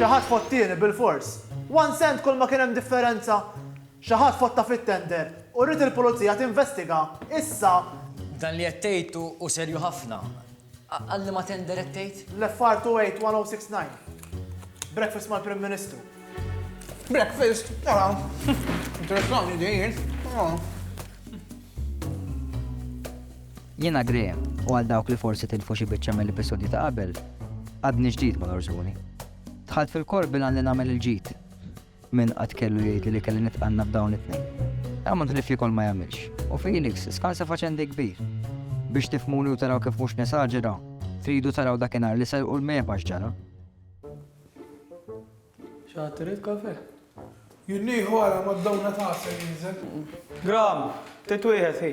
Xi ħadd fottini bilfors. One cent kull ma kien hemm differenza. Xi ħadd fotta fit-tender u rrid il-Pulizija tinvestiga issa. Dan li qed tgħid hu serju ħafna. Għal liema tender qed tgħid? L-FR 281069. Breakfast mal-Prim Ministru. Breakfast? Ara. Interessanti din. Jiena Graham, u għal dawk li forsi tilfu xi biċċa mill-episodji ta' qabel, għadni ġdid mal-Orsuni. Dħalt fil-kor bil-għan li nagħmel il-ġid. Min qatt kellu jgħidli li kelli nitqanna b'dawn it-tnejn. Għamont li flikol ma jagħmilx, u Felix skansa faċendi kbir. Biex tifmuni u taraw kif mhux nesaġera, tridu taraw dakinhar li serqu l-mepa x'ġara. Xaħtir il-kafe? Jinniħu għara ma d-dawna ta' jinżel. Gram, titwieħed hi.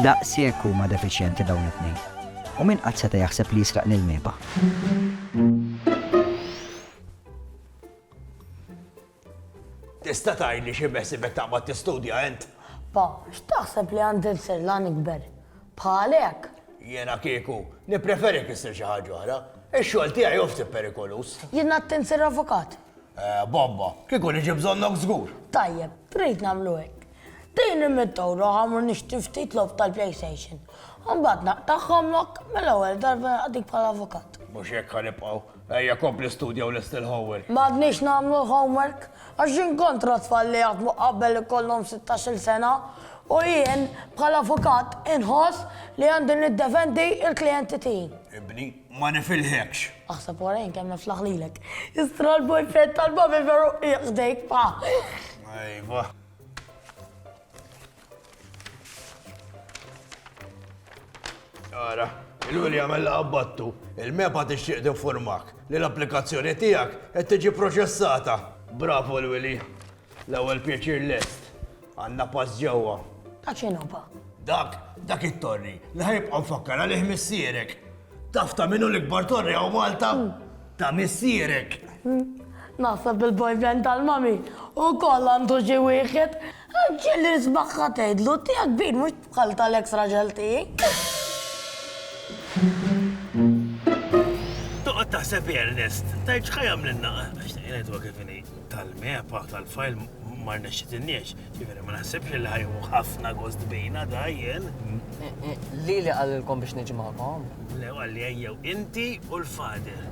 Daqshekk huma defiċjenti dawn it-tnejn. U min qatt seta' jaħseb li jisraq lil Meba? Tista' tgħidli xi beħsibek taqbad tistudja int? Pa, x'taħseb li għandi nsir la nikber? Bħalek! Jiena kieku, nippreferik issir xi ħaġa oħra. Ix-xogħol tiegħi hu ftit perikoluż. Jien għedt insir avukat. Eh, bomba! Kieku niġi bżonnok żgur! Tajjeb, trid nagħmlu hekk. Din hi mit-toro ħamru nixtri ftit logħob tal-PlayStation. Imbagħad naqtagħhom lok mill-ewwel darba naqdik bħala avukat. Mhux hekk ħa nibqgħu. Ejja kompli studja u lesti l-homework. M'għadniex nagħmlu l-homework għax jien kontra tfal li jaħdmu qabel ikollhom sittax-il sena u jien bħala avukat inħoss li għandi niddefendi l-klijenti tiegħi. Ibni, ma nifilħekx. Aħseb wara jien kemm niflaħ lilek. Istra l-boyfriend tal-babi veru qiegħ ħdejk pa. Ejva. Ara, il-għuli għamel għabbattu, il-mepa tixtieq tinformak li l-applikazzjoni tiegħek qed tiġi proċessata. Bravo l-wili, l-ewwel pjaċir lest, għandna pass ġewwa. Ta' x'inhuba? Dak, dak it-torri, li ħajbqa' nfakkar għalih missierek. Taf ta' min hu l-ikbar torri hawn Malta? Ta' missierek. Naħseb il-boyfriend tal-mami ukoll għandu xi wieħed. Għax ġieli nismagħha tgħidlu tiegħek kbir mhux bħal tal-eks raġel tiegħi. Toqgħod taħseb Ernest, tgħid x'ħa jagħmlilna għax tgħidwa kif inhi. tal-mepa tal-fajl ma rnexxitilniex, ġifieri ma naħsibx li ħajħu ħafna gost bejna dajjen. Li li qalilkom biex niġi magħkom? Le għalli ejjew inti u l-fader.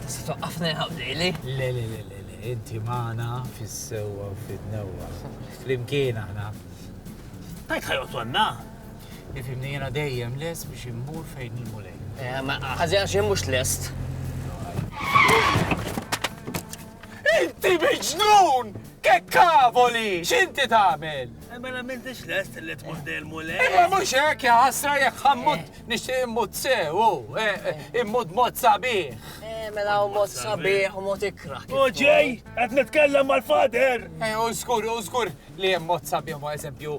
Tista' twaqqafna jħabdili? Le le le le le, inti magħna fis-sewwa u fin-newwa. Flimkien aħna. Tajt ħajqgħod għandna? Ifimni jiena dejjem lest biex immur fejn il-mulej. Eh, ma ħażin xejn mhux lest. Inti miġnun! Ke kavoli, x'inti tagħmel? Eh, ma nagħmiltix lest li tmur dejjem mulej. Eh, ma mhux hekk ja ħasra jekk ħammut nixtieq immut sew, immut mod sabiħ. Mela u mod sabiħ u mod ikra. U ġej, qed nitkellem mal-fader. U żgur, u żgur li hemm mod sabiħ ma eżempju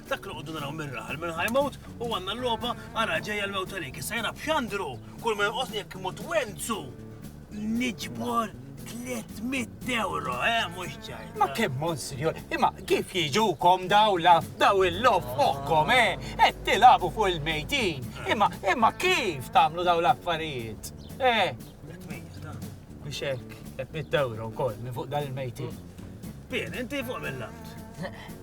Dak li qogħdu naraw mir-raħal minn ħajmut u għandna l-logħba ara ġejja l-mewt għalik. Issa jiena b'xandru kull ma jonqosni jekk imut wenzu. Niġbor 300 euro, eh, mhux ċaj. Ma kemm monsinjur, imma kif jiġukom daw laf daw il-lof fuqkom, eh, qed tilabu fuq il-mejtin. Imma imma kif tagħmlu daw l-affarijiet? Eh, biex hekk 300 euro wkoll minn fuq dan il-mejtin. Bien, inti fuq mill-art.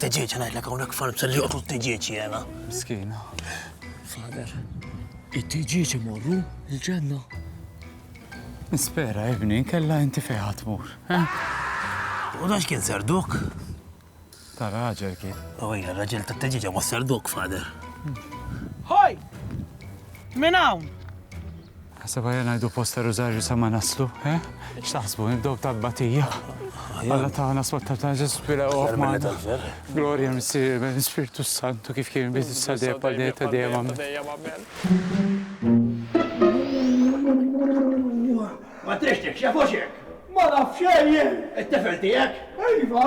Teġieġ ngħidlek hawnhekk farmsa li joqtlu t-teġieġ jiena. Miskin. Sader, it-teġieġ imorru l-ġenna. Nispera ibni, kella inti fejn tmur. U dax kien serduk? Ta' raġel kien. U hija raġel ta' teġieġa ma' serduk, fader. Hoj! Min hawn? Naħseb aħjar ngħidu post ta' Rużarju sa ma naslu, eh? X'taħsbu, nibdew b'tal-batija? Alla tagħna sottar ta' Ġesu fil Aktar minn meta l-ferħ. Glorja l-Missier, ben l-Ispirtu s-Santu kif kien biss issa dejjem bħal dejjem ta' dejjem amen. Ma trixtieqx, jafux hekk! Ma nafx ejjen! It-tifel tiegħek? Iva!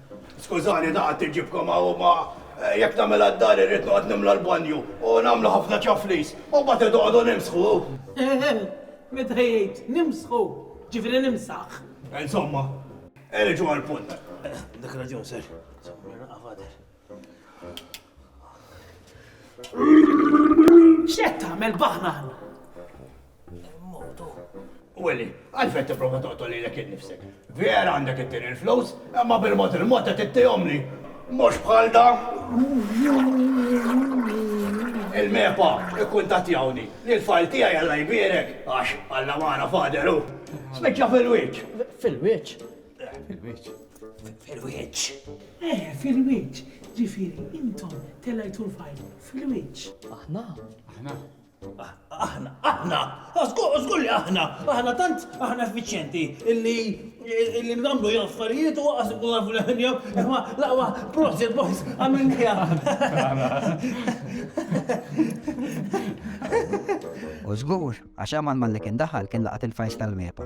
Skużani daqt iġibkom hawn ma jekk nagħmilha d-dar irrid noqgħod nimla l-banju u nagħmlu ħafna ċaflis u mbagħad inqogħdu nimsħu. Eħe, meta jgħid nimsħu, jiġifieri nimsaħ. Insomma, niġu għall-punt. Għandek raġun sir, insomma naqgħa fader. X'qed tagħmel baħnan? Motu. Willi, għalfejn tipprova toqtol lilek innifsek. Vera għandek it-tieni l-flus, imma bil-mod il-mod qed ittihomli. Mhux bħal da. Il-mepa ikkun tatjawni li l-fajl tiegħi għalla jbierek għax għalla magħna faderu. Spiċċa fil-wiċċ. Fil-wiċċ? Fil-wiċċ. Fil-wiċċ. Eh, fil-wiċċ. Ġifieri, intom telajtu l-fajl fil-wiċċ. Aħna? Aħna. Aħna, aħna, żgur li aħna, aħna tant aħna effiċjenti illi illi nagħmlu jew affarijiet u waqas ikun nafu li ħinja, imma laqwa proġett boys għamil U żgur, għax għamal malli kien daħal kien laqat il-fajs tal-mepa.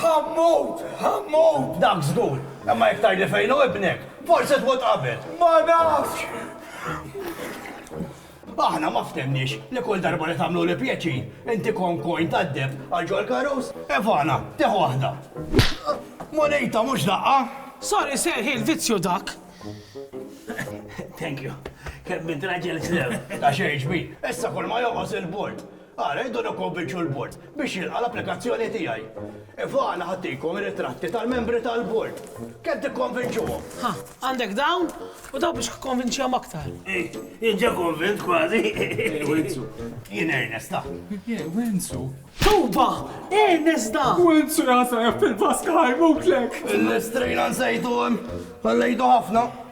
Ħa mmut! Ħa mmut! Dak żgur! Imma jekk tgħidli fejn hu ibnek, forsi tmut qabel. Ma nafx! Aħna ma ftemniex li kull darba li tagħmluli pjaċir, inti kont coin tad-deheb għal ġol karus? Ivana, tieħu waħda. Munita, mhux daqqa? Sorry sir, hi l-vizzju dak. Thank you. Kemm int raġel sew. Ta' xejn, ġmiel. Issa kull ma jonqos il-bord. Ara, irridu nikkonvinċu l-Bord biex jilqa' l-applikazzjoni tiegħi. Iva, għana ħadtikom ritratti tal-membri tal-Bord. Kemm tikkonvinċuhom? Ħa, għandek dawn u dawn biex kkonvinċihom aktar. Jien ġa konvint kważi. Ej, Wenzu. Jien Ernest, ta. Ej, Wenzu. Tobba! Ernest da! Wenzu jgħasajab fil-baska ħajmutlek! Il-lestrina nsejtu hemm. Ħallejtu ħafna.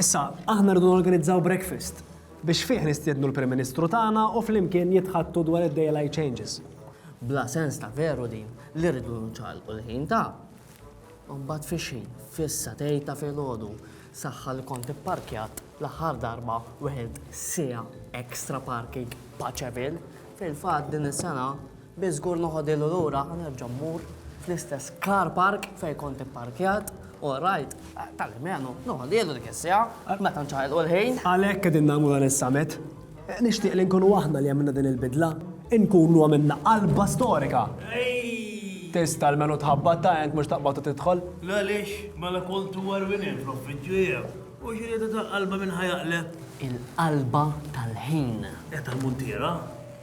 Issa, aħna rridu norganizzaw breakfast biex fih nistiednu l-Prim Ministru tagħna u flimkien jitħaddtu dwar id-daylight changes. Bla sens ta' veru din li rridu nċagħlqu l-ħin ta'. U mbagħad fix-xejn, fis-satejn ta' filgħodu, saħħa li kont ipparkjat l-aħħar darba u ħidt siegħa extra parking Paċeville. Fil-fatt din is-sena Bi żgur noħodhielu lura u nerġa' mmur fl-istess car park fejn kont ipparkjat u rajt tal-almenu noħodhielu dik is-siegħa meta nċaqilqu l-ħin. Għalhekk qegħdin nagħmlu dan is-summit. Nixtieq li nkunu aħna li għamilna din il-bidla. Inkunu għamilna qalba storika. Tista' almenu tħabbat ta' għenk mhux taqbad u tidħol. L-għaliex mela kont huwa rwinien fl-uffiċċju jieħ u xi rieda ta' qalba minn ħa jaqleb? Il-qalba tal-ħin. It-Talmuntiera.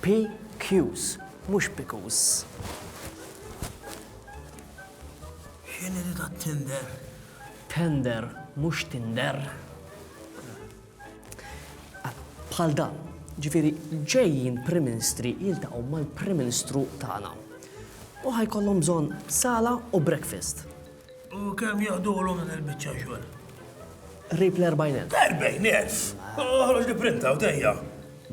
PQs, mhux pikus. X'inhi di tat-Tinder? Tender, mhux Tinder. Bħal dan, ġifieri ġejjin Prim Minstri jiltaqgħu mal-Prim Ministru tagħna. U ħa jkollhom bżonn sala u breakfast. U kemm joħdulhom din il-biċċa xogħol? Qrib l-erbgħin elf. Erbgħin elf! Oħroġ li printa u dejja.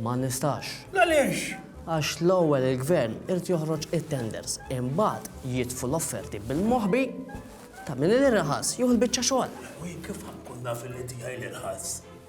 Ma nistax. Għaliex? Għax l-ewwel il-gvern irid joħroġ it-tenders, imbagħad jitfu l-offerti bil-moħbi ta' min l-irħas jieħu l-biċċa xogħol. Wi kif ħankun naf li tiegħi l-irħas?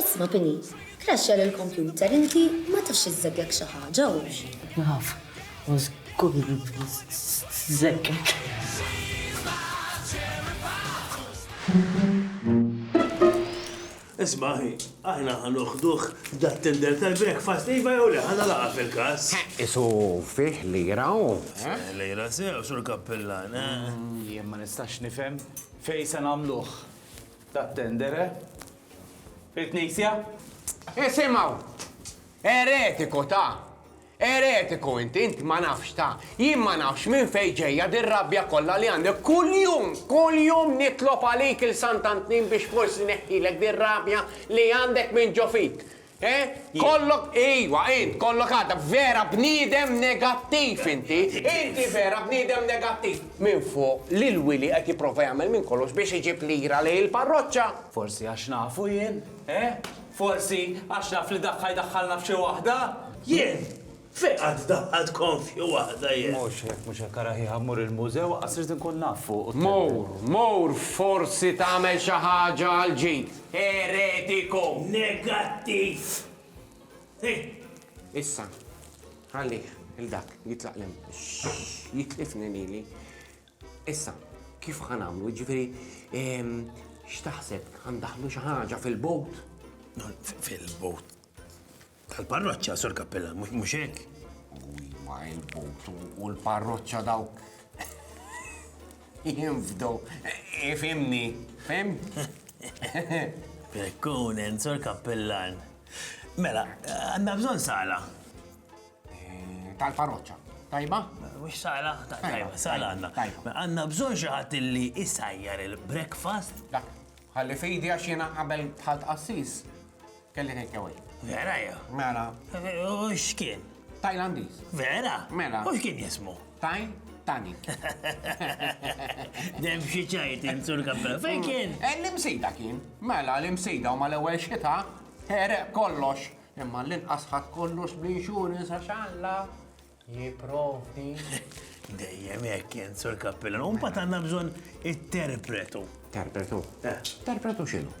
Isma' Pini, kraxxja lill-kompjuter inti ma tafx iżżeggek xi ħaġa hux? Naf, u żgur li bżeggek. Isma' aħi, aħna ħa noħduh dat-tender tal-breakfast, iva jew le, ħa nagħlaqha fil-każ. Qisu fih lira hu, eh? Lira sew, Sur Kappillan, eh? Jien ma nistax nifhem fejn se nagħmluh dat-tender, eh? Il-Knisja? Isimgħu! Eretiku ta! Eretiku int, int ma nafx ta! Jien ma nafx minn fejn ġejja dir-rabja kollha li għandek kuljum, kuljum nitlob għalik il-Sant'Antnin biex forsi neħħilek dir-rabja li għandek minn ġo fik. Int kollok, ejwa, int kollok għadha, vera bniedem negattiv inti! Inti vera bniedem negattiv! Minfuq li l-Wili qed jipprova jagħmel minn kollox biex iġib lira lejn il-parroċċa. Forsi għax nafu jien, eh? Forsi għax naf li dak ħa jdaħħalna f'xi waħda? Jien! Fejn qatt daħħalt konfju waħda jien? Mhux hekk, mhux hekk, ara ħieħa mmur il-mużew, aqqas irid inkun naf fuq u. Mur, mur, forsi tagħmel xi ħaġa għal ġid. Eretiku! Negattiv! Hi! Issa, ħallih, 'il dak, jitlaq 'l hemm. Jitlifni lili. Issa, kif ħa nagħmlu? Jiġifieri, ehm, x'taħseb, ħa ndaħħlu xi ħaġa fil-bowt? Fil-bowt? Tal-parroċċa, Sur Kappella, mhux hekk? Wi ma il-bot u l-parroċċa dawk jinfdu, ifimni, fim? Prekkunen, Sur Kappellan. Mela, għandna bżonn sala. Eh, tal-parroċċa. Tajba? Mux sala, tajba, sala għanna. Għanna bżon xaħat li isajjar il-breakfast. Dak, għalli fidi għax jena qabel bħal qassis. Kelli take away. Vera jew? Mela. U x'kien? Tajlandiż. Vera? Mela. U x'kien jismu? Taj Tani. Dem xi ċajt insur kappella. Fejn mm. kien? Eh, l-imsejda kien. Mela l-imsejda u mal-ewwel xita ħereq kollox. Imma l-inqas ħadd kollox bl-insurance għax Alla jipprovdi. Dejjem hekk kien sur kappella. Umpa tanna bżonn interpretu. Interpretu? Eh. Interpretu x'inhu?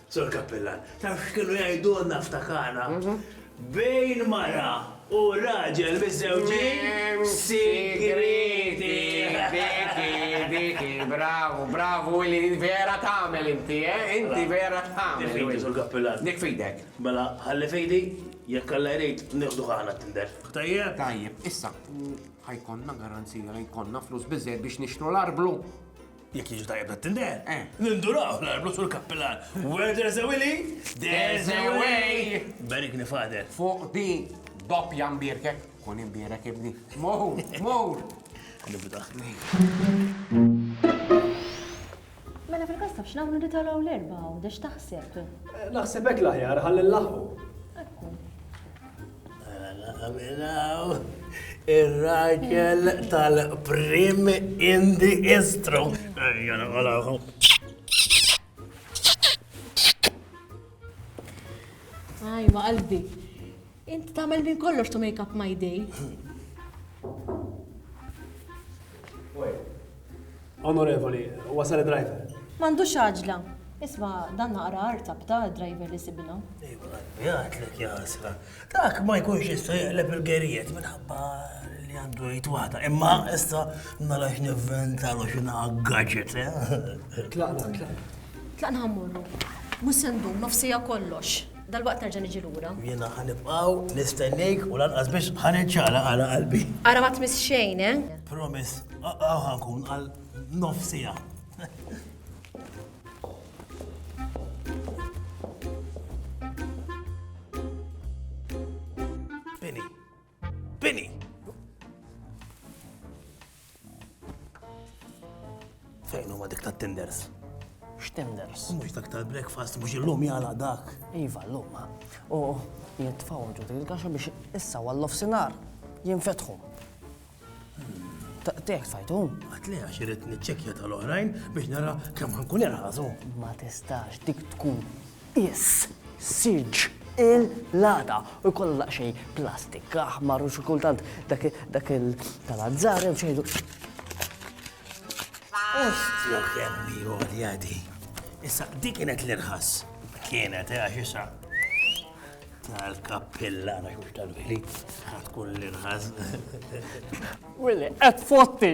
Sur Cappellan, taf x'kienu jgħidulna ftakarna? Bejn mara u raġel miżżewġin sigriti! Diki, diki, bravu, bravu Willy, vera tagħmel inti, eh? Inti vera tagħmel. Dik f'idi, Sur Cappellan. Dik f'idek. Mela, ħalli f'idi, jekk Alla jrid, nieħduh aħna t-Tinder. Tajjeb? Tajjeb, issa, u ħa jkollna garanzija li jkollna flus biżżejjed biex nixtru l-arblu? Jekk jiġu tajjeb dat tindel. Eh. Ninduraw l-arblu sur kappilan. Where there's a willy, there's a way. Berik nifader. Fuq di doppja mbirkek, kun imbirek ibni. Mor, mor. Nibda. Mela fil-kasta biex nagħmlu nitolgħu l-erba' u dex taħseb. Eh, naħseb hekk l-aħjar ħalli l-laħu. Ir-raġel tal-prim indi istru. Aj, ma qalbi. Inti tagħmel minn kollox to make up my day. Onorevoli, wasal id-driver. M'għandux għaġla. Isma', dan naqra artab, ta' d-driver li sibilna. Iva, qalbi, għidlek jasra. Dak ma jkunx jista' jaqleb il-gerijiet minħabba li għandu jgħid waħda. Imma issa nara x'nivventalu xi gadget, eh? Tlaqna, tlaqna. Tlaqna ħammurru. Mhux se ndum, nofsija kollox. Dalwaqt nerġa' niġi lura. U jiena ħa nibqgħu nistennejk u lanqas biss ħa niċċaqlaq għala qalbi. Ara ma tmiss xejn, eh? Promise, hawn ħa nkun għal nofs siegħa. Bini! Fejn huma dik tat-tinders? X'tinders? Mhux dak tal-breakfast mhux illum jala dak. Iva llum. U jitfgħu ġud il-gaxa biex issa għall-lof sinar jinfetħu. Teħt fajtu? Għatli għax irrit niċċekja tal-oħrajn biex nara kemm ħankun irħazu. Ma tistax dik tkun Is. Siġġ. Il. L-għada. U jkollhom daqsxejn plastik aħmar u xi kultant dak dak il. Tal-azzar jew xi ngħidu. Ostja kemm hi għolja di. Issa di kienet l-irħas. Kienet, eh, għax issa. Tal-kappilla, għax mhux tal-vili. Ħatkun l-irħas. Willi, qed fotti.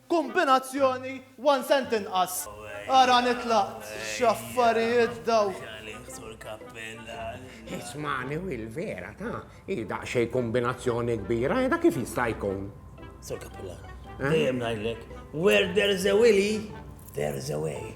Kombinazzjoni one cent inqas. Ara nitlaq. X'affarijiet dawn! Ismagħni Will vera ta, hi daqsxejn kombinazzjoni kbira, da kif jista' jkun? Sur Cappellan, dejjem ngħidlek, where there's a Willy, there's a way.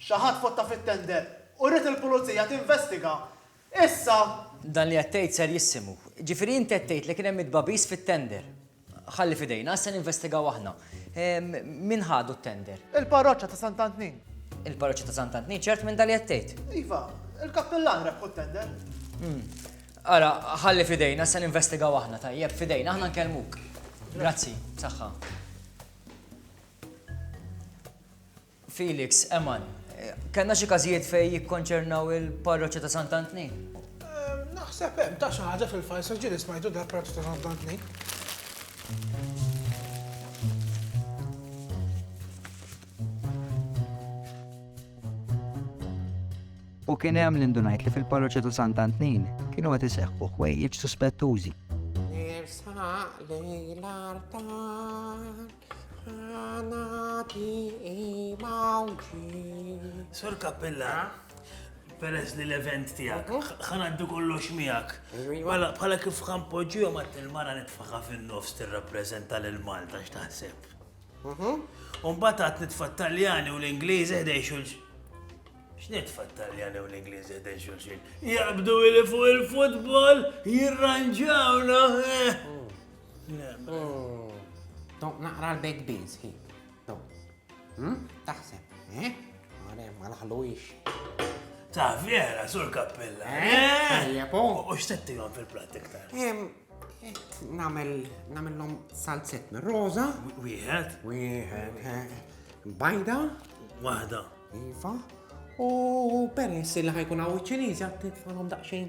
Xi ħadd fotta fit-tender u ried il-Pulizija tinvestiga. Issa. Dan li qed tgħid serjissimu. Ġifieri inti qed tgħid li kien hemm it-tbagħbis fit-tender. Ħalli f'idejna, issa ninvestigaw aħna. Min ħadu t-tender? Il-parroċċa ta' Sant'Antnin. Il-parroċċa ta' Sant'Antnin? Ċert minn dan li qed tgħid? Iva, il-kappillan rebħu t-tender. Ara, ħalli f'idejna, issa ninvestigaw aħna, tajjeb? F'idejna, aħna nkellmuk. Grazzi, b'saħħa. Felix, Eman, kellna xi każijiet fejn jikkonċernaw il-parroċċa ta' Sant' Antnin? Naħseb hemm ta' xi ħaġa fil-fajls għax ġieli smajtu dal parroċċa ta' Sant' Antnin. U kien hemm li ndunajt li fil-parroċċa ta' Sant' Antnin kienu qed iseħħu ħwejjeġ suspettużi. Nirsa lejn l-artar. Sur Kappilla, peress li l-event tijak, ħanaddu kollox miegħek. Bħala kif ħan poġġu ma t-tilmana nitfaqa fin-nofs tirrappreżenta l Malta x'taħseb. Mhm. Umbat għat nitfa taljani u l-Ingliżi ħdej xulxin. X'nitfa taljani u l-Ingliżi ħdej xulxin? Jaqbdu li fuq il-futbol jirranġawna. Eh. Tom, naqra l-baked beans, hi. Tom. Hmm? Taħseb, eh? Mare, ma laħluwix. Ta' vera, sur kappella. Eh? eh? U x'tettilhom fil-platt iktar? Namel, namellhom salzet minn roża. Wieħed. Wieħed. Eh, bajda. Waħda. Iva. U peress li ħajkun għaw ċinizi għattitlom daqxejn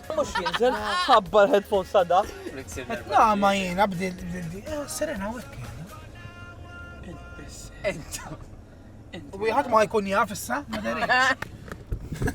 Mux jinżel, ħabba l-headphones ta' da. La ma jina bdil bdil eh, Serena u ekki. Enta. U jħat ma jkun jaf issa, ma